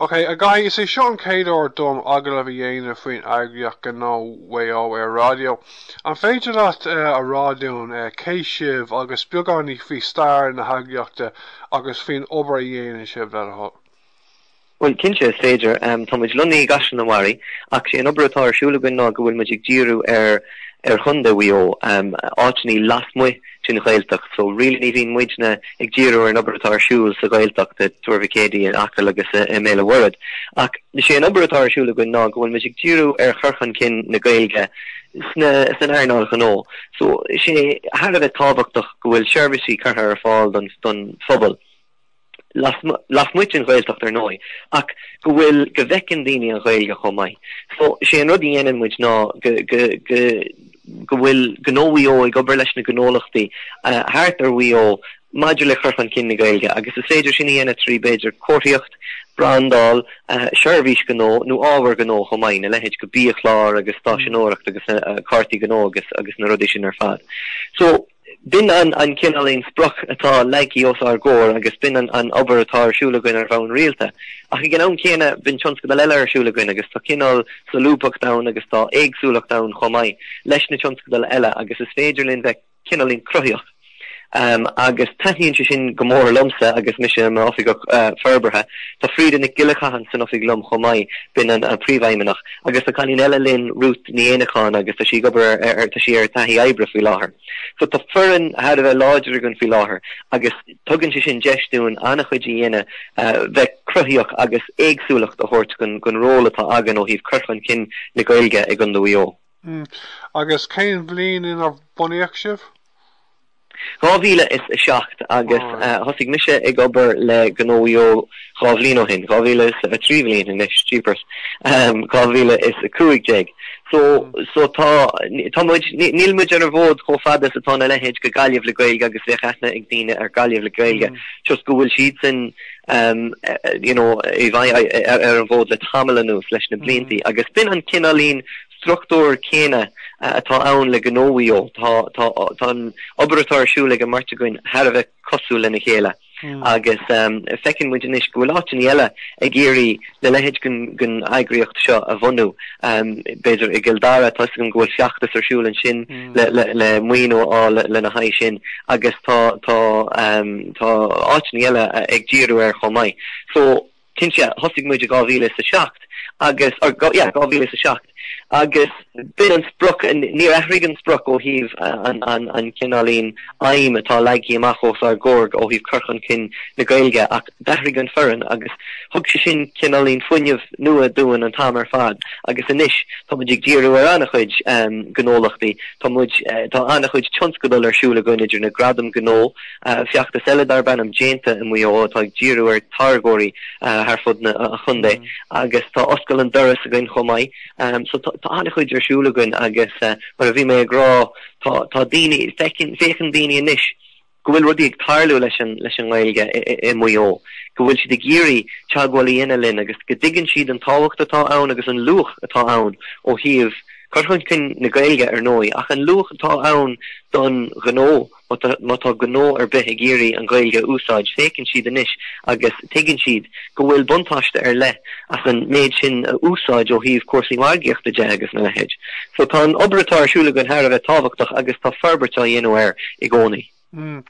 OK, a Dhaithí, is é seo an chéad uair dom agallamh a dhéanamh faoin eagraíocht Gnó Mhaigh Eo ar raidió. An féidir leat a rá dúinn cé sibh agus beagáinín faoi stair na heagraíochta agus faoin obair a dhéanann sibh, le do thoil? Bhuel, cinnte, is féidir. Tá muid lonnaithe i gCaisleán an Bharraigh, ach is é an obair atá ar siúl againn ná go bhfuil muid ag díriú ar Chontae Mhaigh Eo, áiteanna lasmuigh, don Ghaeltacht so really ní bhíonn muidne ag díriú ar an obair atá ar siúl sa Ghaeltacht i Tuar Mhic Éadaí in Acaill agus i mBéal an Mhuirthead ach is é an obair atá ar siúl againn ná go bhfuil muid ag díriú ar chur chun cinn na Gaeilge sna san earnáil ghnó so sé thar a bheith tábhachtach go bhfuil seirbhísí curtha ar fáil don don phobal lasmuigh den Ghaeltacht ar ndóigh, ach go bhfuil go bhfeiceann daoine an Ghaeilge chomh maith. So sé an rud a dhéanann muid ná go go go go bhfuil Gnó Mhaigh Eo ag obair leis na gnólachtaí thart ar Mhaigh Eo maidir le cur chun cinn na Gaeilge agus is féidir sin a dhéanamh trí b'fhéidir comharthaíocht, brandáil, seirbhís gnó nó ábhar gnó chomh maith, na leithéid go biachláir agus stáiseanóireacht agus cártaí gnó agus agus na rudaí sin ar fad. So. B'in an cineáilín sprioc atá leagtha os ár gcomhair agus b'in an obair atá ar siúl againn ar bhonn rialta. Ach ag an am céanna, bíonn tionscadail eile ar siúl againn agus tá cineál solúbthacht ann agus tá éagsúlacht ann chomh maith leis na tionscadail eile agus is féidir linn bheith cineáilín cruthaíoch agus taitníonn sé sin go mór liomsa agus mise i m'oifigeach forbartha. Tá Freda Nic Giolla Chatháin san oifig liom chomh maith, b'in an príomhfheidhmeannach. Agus tá cailín eile linn, Ruth Ní Éanacháin, agus tá sí ag obair ar, tá sí ar taithí oibre faoi láthair. So tá foireann thar a bheith láidir againn faoi láthair agus tugann sé sin deis dúinn an-chuid a dhéanamh bheith cruthaíoch agus éagsúlacht a thabhairt chun don ról atá againn ó thaobh cur chun cinn na Gaeilge i gCondae Mhaigh Eo. Agus cén bhliain inar bunaíodh sibh? 2007 agus thosaigh mise ag obair le Gnó Mhaigh Eo dhá bhliain ó shin, 2000, trí bhliain anois, jeepers, 2015. So, so tá, tá muid, níl muid ar an bhfód chomh fada is atá na leithéid go Gaillimh le Gaeilge agus bheadh aithne ag daoine ar Gaillimh le Gaeilge just go bhfuil siadsan, you know, ar an bhfód le tamall anuas leis na bliantaí agus b'in an cineáilín struchtúr céanna atá ann le Gnó Mhaigh Eo. Tá, tá, tá an obair atá ar siúl ag an mbeirt againn thar a bheith cosúil lena chéile agus feiceann muid anois go bhfuil áiteanna eile ag iarraidh le leithéid den, den eagraíocht seo a bhunú. B'fhéidir i gCill Dara, tá 'fhios agam go bhfuil feachtas ar siúl ansin le, le, le maoiniú a fháil lena haghaidh sin agus tá, tá, tá áiteanna eile ag díriú air chomh maith. So. cinnte, thosaigh muid i dhá mhíle is a seacht agus, or go, yeah, dhá mhíle is a seacht agus b'in an sprioc, níor athraigh an sprioc ó thaobh an, an, an cineáilín aidhm atá leagthaí amach os ár gcomhair ó thaobh cur chun cinn na Gaeilge ach d'athraigh an foireann agus thug sé sin cineáilín fuinneamh nua dúinn an t-am ar fad agus anois tá muid ag díriú ar an-chuid um, gnólachtaí, tá muid, uh, tá an-chuid tionscadal ar siúl againn idir na gradaim gnó feachtas eile darb ainm Déanta i Maigh Eo atá ag díriú ar táirgeoirí thar fud na chontae agus tá oscail an doras againn chomh maith. So tá an-chuid ar siúl againn agus mar a bhí mé ag rá tá tá daoine, féachann daoine anois go bhfuil rudaí ag tarlú leis an leis an nGaeilge i Maigh Eo, go bhfuil siad ag iarraidh teagmháil a dhéanamh linn agus go dtuigeann siad an tábhacht atá ann agus an luach atá ann ó thaobh cur chun cinn na Gaeilge ar ndóigh ach an luach atá ann don ghnó. Má tá gnó ar bith ag iarraidh an Ghaeilge a úsáid, féachann siad anois agus tuigeann siad go bhfuil buntáiste ar leith as an méid sin a úsáid ó thaobh cúrsaí margaíochta de agus a leithéid. So tá an obair atá ar siúl againn thar a bheith tábhachtach agus tá forbairt á dhéanamh air i gcónaí. Mm.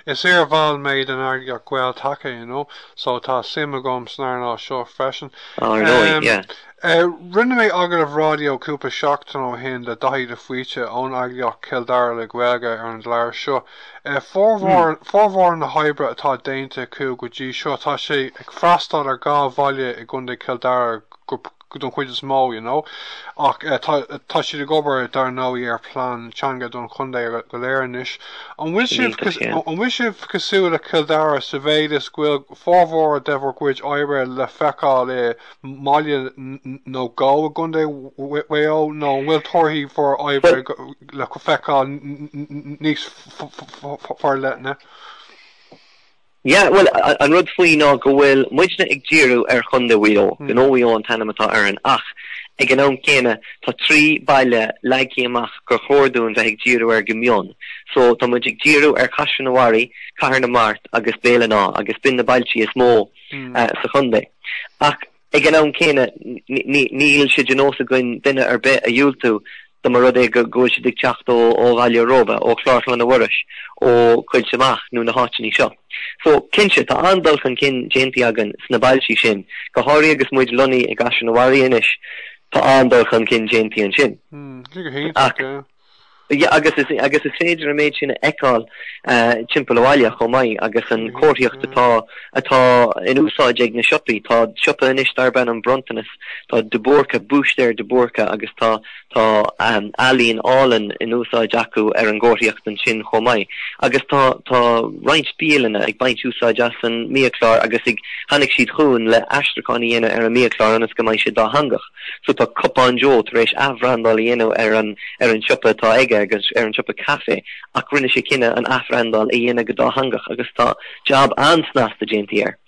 Is iar-bhall mé den eagraíocht Gael-Taca, you know, so tá suim agam san earnáil seo freisin. Ar ndóigh, yeah. Rinne mé agallamh raidió cúpla seachtain ó shin le Daithí de Faoite ón eagraíocht Cill Dara le Gaeilge ar an gclár seo. Formhór na hoibre atá déanta acu go dtí seo tá sé ag freastal ar dhá bhaile i gContae Chill Dara don chuid is mó you know ach tá siad ag obair dar ndóigh ar plean teanga don chontae go léir anois. An bhfuil sibh cosúil le Cill Dara sa mhéid is go bhfuil formhór de bhur gcuid oibre le feiceáil i mbaile nó dhó i gContae Mhaigh Eo nó an bhfuil torthaí bhur oibre le feiceáil níos forleithne? Yeah, bhuel, an rud faoi ná go bhfuil muidne ag díriú ar Chontae Mhaigh Eo, Gnó Mhaigh Eo an t-ainm atá orainn, ach ag an am céanna tá trí baile leagtha amach gur chóir dúinn bheith ag díriú air go mion. So tá muid ag díriú ar Chaisleán an Bharraigh, Cathair na Mart agus Béal an Átha agus b'in na bailtí is mó, sa chontae. Ach ag an am céanna níl sé de nós againn duine ar bith a dhiúltú dó más rud é go bhfuil siad ag teacht ó Bhaile Róba, ó Chlár Chlainne Mhuiris, ó Choillte Mach nó na háiteanna seo. So, cinnte, tá an-dul chun cinn déanta againn sna bailtí sin, go háirithe agus muid lonnaithe i gCaisleán an Bharraigh anois, tá an-dul chun cinn déanta ansin. Ach Agus is féidir an méid sin a fheiceáil timpeall an bhaile chomh maith agus an chomharthaíocht atá in úsáid ag na siopaí. Tá siopa anois darb ainm An Bronntanas, tá De Búrca, Búistéir de Búrca agus tá ealaín álainn in úsáid acu ar an gcomharthaíocht ansin chomh maith. Agus tá roinnt bialanna ag baint úsáid as an mbiachlár agus tháinig siad chugainn le haistriúchán a dhéanamh ar an mbiachlár ionas go mbeidh sé dátheangach. So tá Cupán Joe tar éis athbhrandáil a dhéanamh ar an ar an siopa atá aige agus ar an siopa caife ach rinne sé cinneadh an athbhrandáil a dhéanamh go dátheangach agus tá jab an-snasta déantaí air.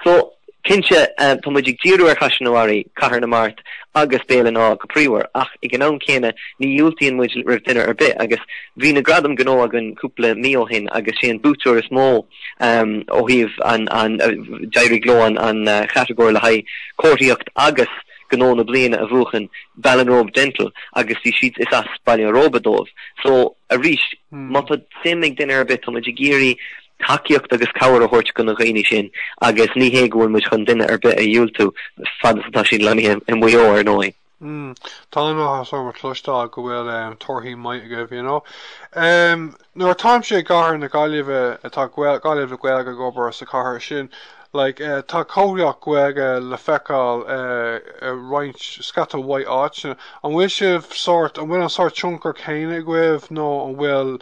So cinnte tá muid ag díriú ar Chaisleán an Bharraigh, Cathair na Mart agus Béal an Átha go príomhar ach ag an am céanna ní dhiúltaíonn muid roimh duine ar bith agus bhí na gradaim gnó againn cúpla mí ó shin agus sé an buaiteoir is mó Ó thaobh an, d'éirigh leo an chatagóir le haghaidh Comharthaíocht agus Gnó na Bliana a bhuachan, Ballinrobe Dental agus bhí siad, is as Baile an Róba dóibh. So, arís, má tá suim ag duine ar bith, tá muid ag iarraidh tacaíocht agus cabhair a thabhairt dhona daoine sin agus ní hé go bhfuil muid chun duine ar bith a dhiúltú fad is atá siad lonnaithe i Maigh Eo, ar ndóigh. mm tá an-áthas orm a chloisteáil go bhfuil em torthaí maith agaibh you know em nuair atáimse i gcathair na Gaillimhe eh tá gael Gaillimh le Gaeilge ag obair sa chathair sin like eh tá comharthaíocht Gaeilge le feiceáil eh roinnt scata mhaith áiteanna an bhfuil sibh sórt an bhfuil an sórt tionchar céanna agaibh nó an bhfuil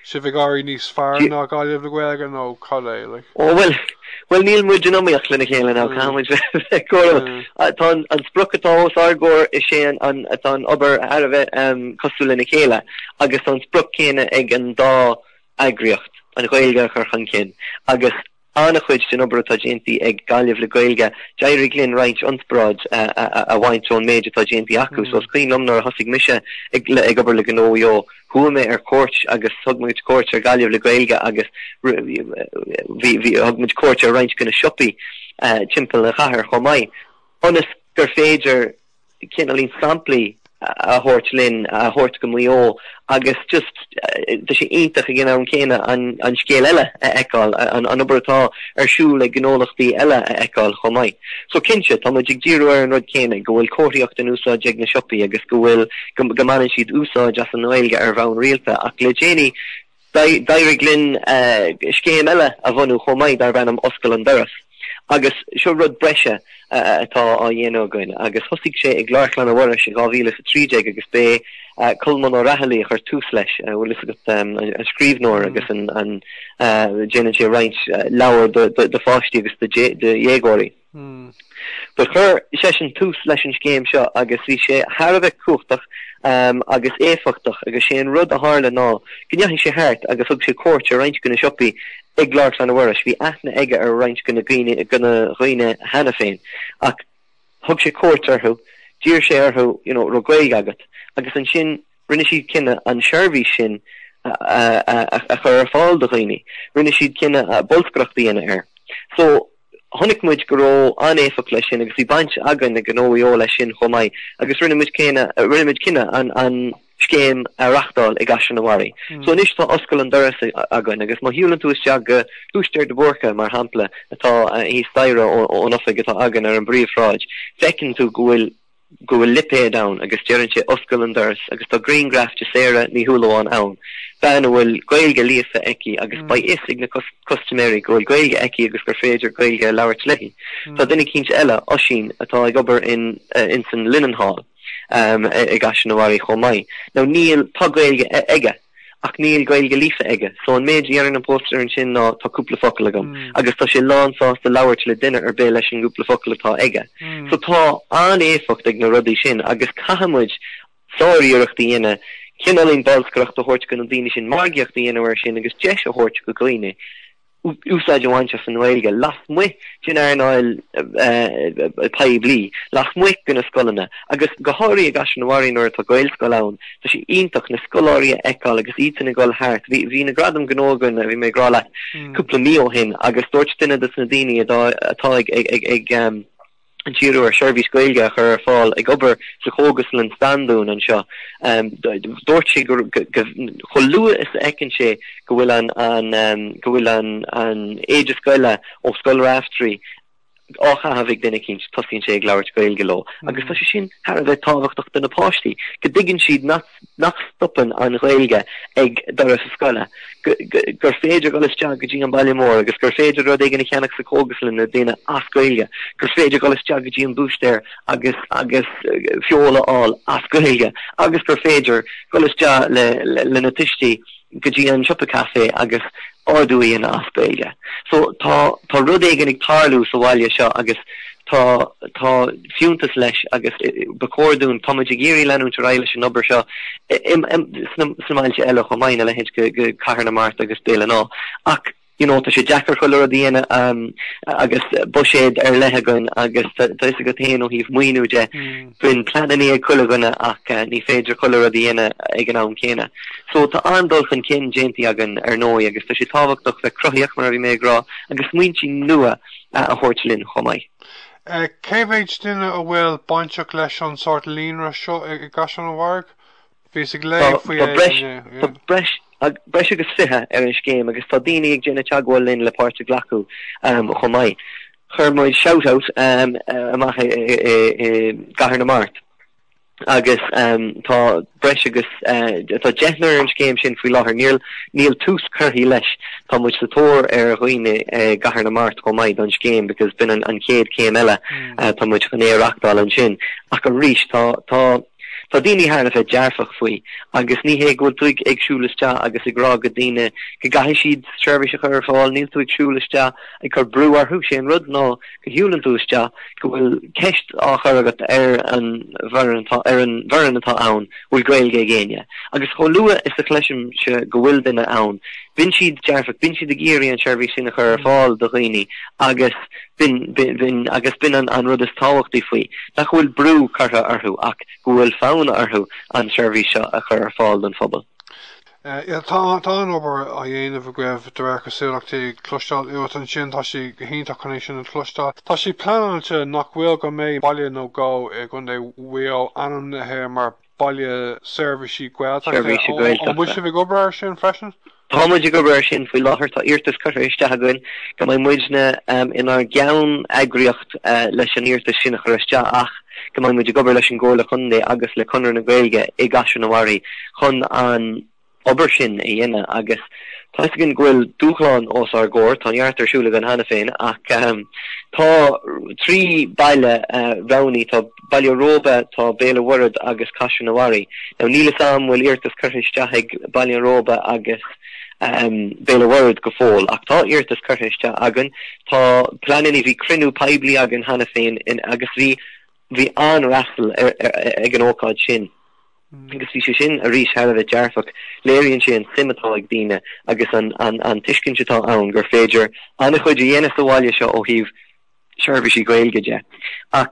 sibh ag éirí níos fearr ná Gaillimh le Gaeilge nó cad é? like. Ó bhuel, bhuel níl muid in iomaíocht lena chéile caithfidh mé a rá. Tá an sprioc atá os ár gcomhair is é an, tá an obair thar a bheith cosúil lena chéile agus tá an sprioc céanna ag an dá eagraíocht, an Ghaeilge a chur chun cinn agus An-chuid den obair atá déantaí ag Gaillimh le Gaeilge, d'éirigh linn roinnt ionspráid a bhaint ón méid atá déantaí acu so is cuimhin liom nuair a thosaigh mise ag obair le Gnó Mhaigh Eo, chuaigh mé ar cuairt agus thug muid cuairt ar Gaillimh le Gaeilge agus thug muid cuairt ar roinnt de na siopaí timpeall an chathair chomh maith ionas gur féidir cineáilín samplaí a thabhairt linn, a thabhairt go Maigh Eo agus just tá sé iontach ag an am céanna an scéal eile a fheiceáil, an obair atá ar siúl le gnólachtaí eile a fheiceáil chomh maith. So cinnte, tá muid ag díriú ar an rud céanna, go bhfuil comharthaíocht in úsáid ag na siopaí agus go bhfuil, go mbaineann siad úsáid as an nGaeilge ar bhonn rialta ach le déanaí, D'éirigh linn scéim eile a bhunú chomh maith darb ainm 'Oscail an Doras' agus seo rud breise atá á dhéanamh againn agus thosaigh sé i gClár Chlainne Mhuiris in 2013 agus b'é Colmán Ó Raghallaigh a chuir tús leis, an bhfuil fhios agat, an scríbhneoir agus an, déanann sé roinnt leabhar do pháistí agus do dhéagóirí. Hmm. Do chuir seisean tús leis an scéim seo agus bhí sé thar a bheith cumhachtach agus éifeachtach agus sé an rud a tharla ná go ndeachaigh sé thart agus thug sé cuairt ar roinnt go na siopaí i gClár Chlainne Mhuiris. Bhí aithne aige ar roinnt go na daoine cheana féin ach thug sé cuairt orthu, d'iarr sé orthu an raibh Gaeilge agat agus ansin rinne siad cinneadh an seirbhís sin a, a, a, a chur ar fáil do dhaoine. Rinne siad cinneadh bolscaireacht a dhéanamh air. So Chonaic muid go raibh an-éifeacht leis sin agus bhí baint againn ag Gnó Mhaigh Eo leis sin chomh maith agus rinne muid cinneadh an scéim a reachtáil i gCaisleán an Bharraigh. So anois tá oscail an doras againn agus má shiúlann tú isteach go búistéir de Búrca mar shampla atá thíos staighre ón oifig atá againn ar an bpríomhshráid, feiceann tú go bhfuil go bhfuil lipéad ann agus deireann sé 'Oscail an doras' agus tá griangraf de Sarah Ní Shúilleabháin ann, bean a bhfuil Gaeilge líofa aici agus beidh fhios ag na custaiméirí go bhfuil Gaeilge aici agus gur féidir Gaeilge a labhairt léi. Tá duine eicínt eile, Oisín, atá ag obair in insan Linenhall, i gCaisleán an Bharraigh chomh maith. Now níl, tá Gaeilge aige. ach níl Gaeilge líofa aige, so an méid a deireann an póstaer ansin ná tá cúpla focal agam agus tá sé lán sásta labhairt le duine ar bith leis an gcúpla focal atá aige. So tá an-éifeacht ag na rudaí sin agus caithfidh muid sár-iarracht a dhéanamh cineáilín bolscaireacht a thabhairt go na daoine sin, margaíocht a dhéanamh air sin agus deis a thabhairt go dhaoine. úsáid a bhaint as an nGaeilge lasmuigh den earnáil poiblí, lasmuigh de na scoileanna agus go háirithe i gCaisleán an Bharraigh nuair atá Gaelscoil ann. Tá sé iontach na scoláirí a fheiceáil agus iadsan ag dul thart. Bhí na Gradaim Gnó againn, a bhí mé ag rá leat, cúpla mí ó shin agus dúirt duine dos na daoine atá ag díriú ar sheirbhís Ghaeilge a chur ar fáil, ag obair sa chógaslann Standún anseo. Dúirt sé go chomh luath is a fheiceann sé go bhfuil an go bhfuil an an éide scoile ó Scoil Raifteirí á chaitheamh ag duine eicínt, tosaíonn sé ag labhairt Gaeilge leo agus tá sé sin thar a bheith tábhachtach do na páistí, go dtuigeann siad nach. nach stopann an Ghaeilge ag doras a scoile, gur féidir dhul isteach go dtí an baile mór agus gur féidir rud éigin a cheannach sa chógaslann é a dhéanamh as Gaeilge, gur féidir dhul isteach go dtí an búistéir agus agus feoil a fháil as Gaeilge agus gur féidir dhul isteach le na tuistí. go dtí an siopa caife agus ordú a dhéanamh as Gaeilge. So tá tá rud éigin ag tarlú sa bhaile seo agus tá tá fiúntas leis agus ba chóir dúinn, tá muid ag iarraidh leanúint ar aghaidh leis an obair seo i i sna sna mbailte eile chomh maith ina leithéid go go Cathair na Mart agus Béal an Átha ach, you know, tá sé deacair chuile rud a dhéanamh agus buiséad ar leith againn agus tá fhios agat féin ó thaobh maoiniú de bíonn pleananna ag chuile dhuine ach ní féidir chuile rud a dhéanamh ag an am céanna. So tá an-dul chun cinn déanta againn ar ndóigh agus tá sé tábhachtach bheith cruthaíoch mar a bhí mé ag rá agus smaointí nua a thabhairt linn chomh maith. Cé mhéid duine a bhfuil bainteach leis an sórt líonra seo i gCaisleán an Bharraigh? Bhíos ag léamh faoi é inniu. Tá breis agus 20 ar an scéim agus tá daoine ag déanamh teagmháil linn le páirt a ghlacadh chomh maith. Chuir muid Shout Out amach i gCathair na Mart agus tá breis agus, tá deichniúr ar an scéim sin faoi láthair. Níl tús curtha leis. Tá muid sa tóir ar dhaoine i gCathair na Mart chomh maith don scéim because b'in an chéad céim eile. Tá muid chun é a reachtáil ansin. Ach arís tá, tá. Tá daoine thar a bheith dearfach faoi agus ní hé go bhfuil tú ag siúl isteach agus ag rá go daoine go gcaithfidh siad seirbhís a chur ar fáil, níl tú ag siúl isteach ag cur brú orthu, sé an rud ná go shiúlann tú isteach go bhfuil ceist á chur agat ar an bhfoireann atá ann, bhfuil Gaeilge ag éinne? Agus chomh luath is a chloisimse go bhfuil duine ann, bíonn siad dearfach, bíonn siad ag iarraidh an tseirbhís sin a chur ar fáil do dhaoine agus B'in, b'in, agus b'in an rud is tábhachtaí faoi, nach bhfuil brú curtha orthu ach go bhfuil fonn orthu an tseirbhís seo a chur ar fáil don phobal. Tá an obair á dhéanamh agaibh de réir cosúlachtaí, ag cloisteáil uait ansin, tá sé go hiontach chun é sin a chloisteáil. Tá sé pleanáilte, nach bhfuil, go mbeidh baile nó dhó i gContae Mhaigh Eo ainmnithe mar, Baile Seirbhíse Gaeltachta. An bhfuil sibh ag obair air sin freisin? Tá muid ag obair air sin faoi láthair, tá iarratas curtha isteach againn go mbeidh muidne inár gceann-eagraíocht leis an iarratas sin a chur isteach ach go mbeidh muid ag obair leis an gComhairle Contae agus le Conradh na Gaeilge i gCaisleán an Bharraigh chun an obair sin a dhéanamh agus tá 'fhios againn go bhfuil dúshláin os ár gcomhair, tá neart ar siúl againn cheana féin ach tá trí baile roghnaithe, tá Baile Róba, tá Béal an Mhuirthead agus Caisleán an Bharraigh. Now níl 'fhios a'm bhfuil iarratas curtha isteach ag Baile an Róba agus Béal an Mhuirthead go fóill ach tá iarratas curtha isteach againn, tá pleananna, bhí cruinniú poiblí againn cheana féin agus bhí bhí an-fhreastal ag an ócáid sin. agus bhí sé sin arís thar a bheith dearfach, léiríonn sé an tsuim atá ag daoine agus an tuiscint atá ann gur féidir an-chuid a dhéanamh sa bhaile seo ó thaobh seirbhísí Gaeilge de. Ach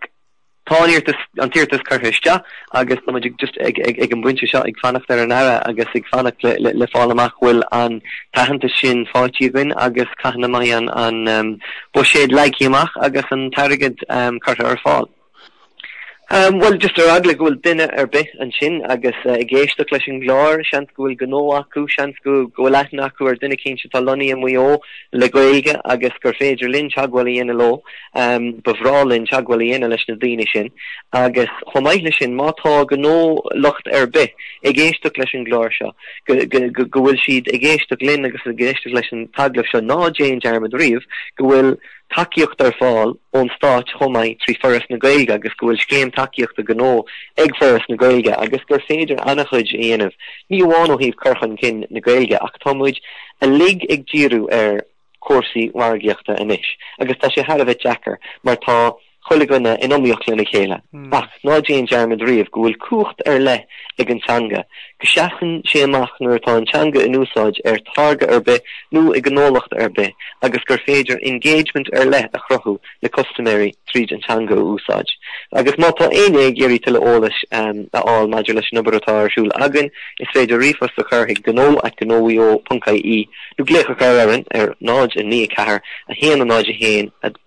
tá an t-iarratas curtha isteach agus tá muid just ag an bpointe seo ag fanacht ar an Aire agus ag fanacht le fáil amach bhfuil an t-aitheantas sin faighte againn agus cathain a mbeidh an buiséad leagtha amach agus an t-airgead curtha ar fáil. Bhuel, just ar eagla go bhfuil duine ar bith ansin agus ag éisteacht leis an gclár, seans go bhfuil gnó acu, seans go bhfuil aithne acu ar dhuine éicint atá lonnaithe i Maigh Eo le Gaeilge agus gur féidir linn teagmháil a dhéanamh leo, ba bhreá linn teagmháil a dhéanamh leis na daoine sin. Agus chomh maith leis sin, má tá gnólacht ar bith ag éisteacht leis an gclár seo, go bhfuil siad ag éisteacht linn agus ag éisteacht leis an t-agallamh seo, ná déan dearmad riamh go bhfuil tacaíocht ar fáil ón stáit chomh maith trí Foras na Gaeilge agus go bhfuil scéim tacaíochta gnó ag Foras na Gaeilge agus gur féidir an-chuid a dhéanamh, ní amháin ó thaobh cur chun cinn na Gaeilge ach tá muid uilig ag díriú ar chúrsaí margaíochta anois agus tá sé thar a bheith deacair mar tá chuile dhuine in iomaíocht lena chéile. Ach ná déan dearmad riamh go bhfuil cumhacht ar leith ag an teanga, go seasann sé amach nuair atá an teanga in úsáid ar táirge ar bith nó i gnólacht ar bith agus gur féidir engagement ar leith a chruthú le custaiméirí tríd an teanga a úsáid. Agus má tá éinne ag iarraidh tuilleadh eolais a fháil maidir leis an obair atá ar siúl againn, is féidir ríomhphost a chur chuig gnó at gnomhaigheo.ie nó glaoch a chur orainn ar 0 9 4 1 0 1 2.